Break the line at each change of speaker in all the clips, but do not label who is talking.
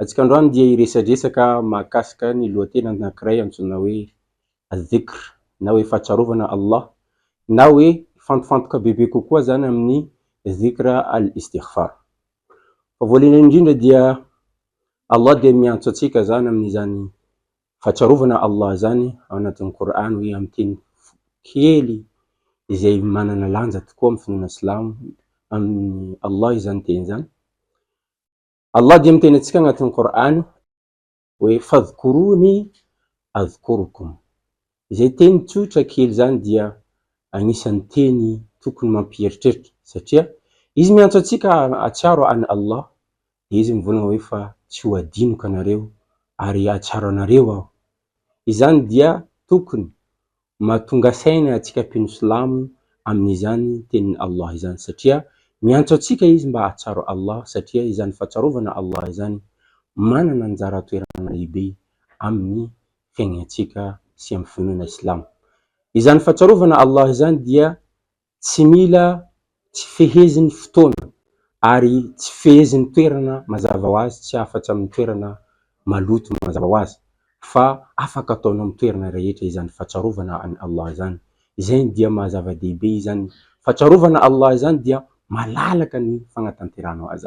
Antsika androany dia hiresadresaka mahakasika ny lohateny anankiray antsoina hoe Al-Dhikr na hoe Fahatsiarovana Allah na hoe mifantofantoka bebe kokoa izany amin'ny Dhikr Al-Istighfar. Fa voalohany indrindra dia Allah dia miantso antsika izany amin'izany Fahatsiarovana Allah izany ao anatin'ny Kor'any hoe amin'ny teny kely izay manana lanja tokoa amin'ny finoana silamo, amin'i Allah izany teny izany. Allah dia miteny antsika agnatin'ny Kor'any hoe fadhkourouni adhkouroukoum. Izay teny tsotra kely izany dia agnisan'ny teny tokony mampieritreritra satria Izy miantso antsika hahatsiaro an'i Allah dia Izy mivolagna hoe fa tsy ho adinoka anareo ary hahatsiaro anareo aho. Izany dia tokony Mahatonga saina antsika mpino silamo amin'izany tenin'i Allah izany satria miantso antsika izy mba hahatsiaro Allah satria izany fahatsiarovana Allah izany manana anjara toerana lehibe amin'ny fiaignantsika sy amin'ny finoana islamo. Izany fahatsiarovana Allah izany dia Tsy mila tsy fehezin'ny fotoana ary tsy fehezin'ny toerana mazava ho azy tsy afatsy amin'ny toerana maloto mazava ho azy fa afaka ataonao amin'ny toerana rehetra izany fatsarovana an'i Allah izany izany dia maha zava-dehibe izany fatsarovana Allah izany dia malalaka ny fagnatanterahanao azy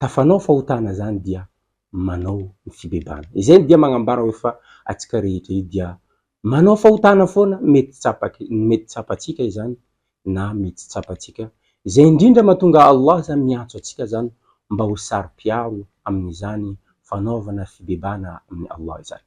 tafanao fahotana zany dia manao ny fibebahana. Izay ny dia magnambara hoe fa atsika rehetra io dia manao fahotana foana mety tsapak mety tsapatsika izany na mety tsy tsapatsika izay indrindra matonga Allah zany miantso atsika zany mba ho saro-piaro amin'izany fanaovana fibebahana amin'i Allah izany.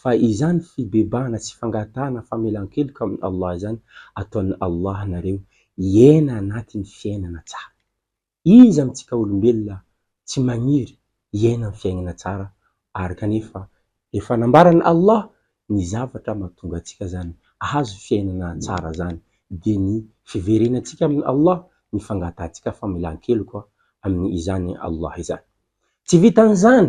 Fa izany fibebahana sy fangatahana famelan-keloka amin'i Allah izany, ataon'i Allah nareo hiaina anatin'ny fiainana tsara. Iza amintsika olombelona tsy maniry hiaina amin'ny fiaignana tsara ary kanefa efa nambaran'i Allah ny zavatra mahatonga antsika izany hahazo fiainana tsara izany, dia ny fiverenantsika amin'i Allah, ny fangatahantsika famelan-keloka amin'izany Allah izany. Tsy vitan'izany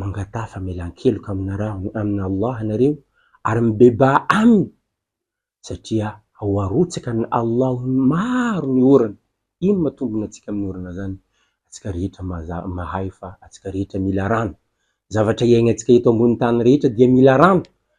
mangataha famelan-keloka aminarahony amin'i Allah ianareo ary mibebaha Aminy satria ao arotsaka an'i Allah maro ny orana, ino ma tombony antsika amin'ny orana zany? Antsika rehetra mahay fa antsika rehetra mila rano, zavatra iainantsika eto ambony tany rehetra dia mila rano,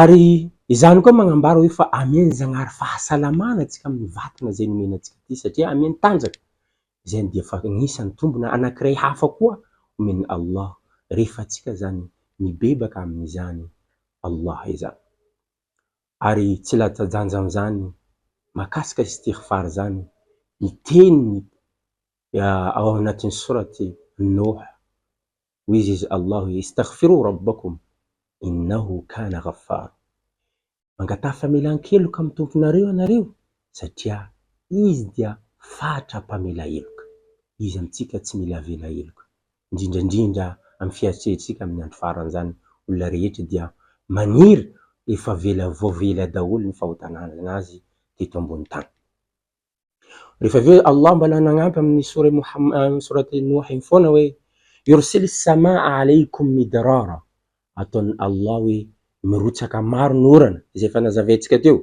Ary izany koa magnambara hoe fa amian'i Zagnahary fahasalamana antsika amin'ny vatana izay nomeny antsika ity satria amiany tanjaka izay dia fa agnisany tombona anakiray hafa koa omen'i Allah rehefa antsika izany mibebaka amin'izany Allah izany. Ary tsy latsa-danja amin'izany mahakasika istighfar izany ny teniny ao anatin'ny sourate Nouh Hoy izy izy Allahu hoe, Istaghfirou Rabbakoum innahu kana ghaffar, Mangataha famelan-keloka amin'ny Tomponareo ianareo satria Izy dia fatra mpamela heloka. Iza amintsika tsy mila avela heloka? Indrindra indrindra amin'ny fiharitsihetritsika amin'ny andro farany izany, olona rehetra dia maniry efa avela voavela daholo ny fahotanana azy teto ambony tany. Rehefa avy eo Allah mbola nagnampy amin'ny sora Mohammad sourate Nouh igny foana hoe Yursil samaa aleykum midrara ataon'i Allah hoe mirotsaka maro ny orana izay efa nazavaintsika teo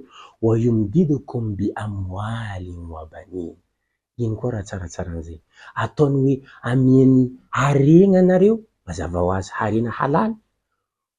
wa yumdidukum bi amwalin wa banin iny koa raha tsaratsara an'izay ataony hoe amiany harena anareo mazava ho azy harena halal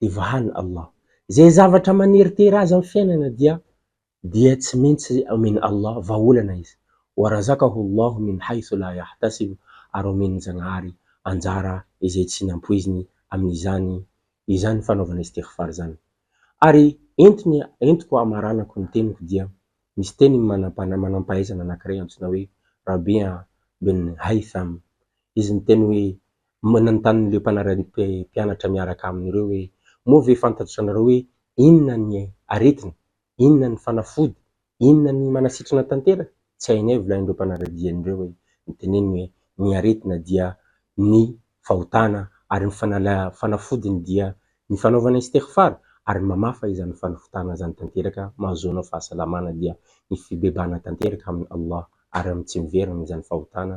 dia vahan' Allah. Izay zavatra maneritery azy amin'ny fiainana dia dia tsy maintsy omen'i Allah vahaolana izy. Wa razakahu Allahu min haythu la yahtasib ary omen'ny Zagnahary anjara izay tsy nampoiziny amin'izany izany fanaovana istighfar izany. Ary entiny entiko hamaranako ny teniko dia misy teny manam-panahy manam-pahaizana anankiray antsoina hoe Rabi' bin Haytham. Izy miteny hoe Manontany ireo mpanara-mpianatra miaraka aminy ireo hoe, Moa ve fantatr'ianareo hoe inona ny aretina? Inona ny fanafody? Inona ny manasitrana tanteraka? Tsy hainay, volain'ireo mpanara-diany ireo hoe, ny teneniny hoe, Ny aretina dia ny fahotana ary ny fanafodiny dia ny fanaovana istighfar ary ny mamafa izany fanafotana izany tanteraka mahazoanao fahasalamana dia ny fibebahana tanteraka amin'i Allah ary amin'ny tsy miverina izany fahotana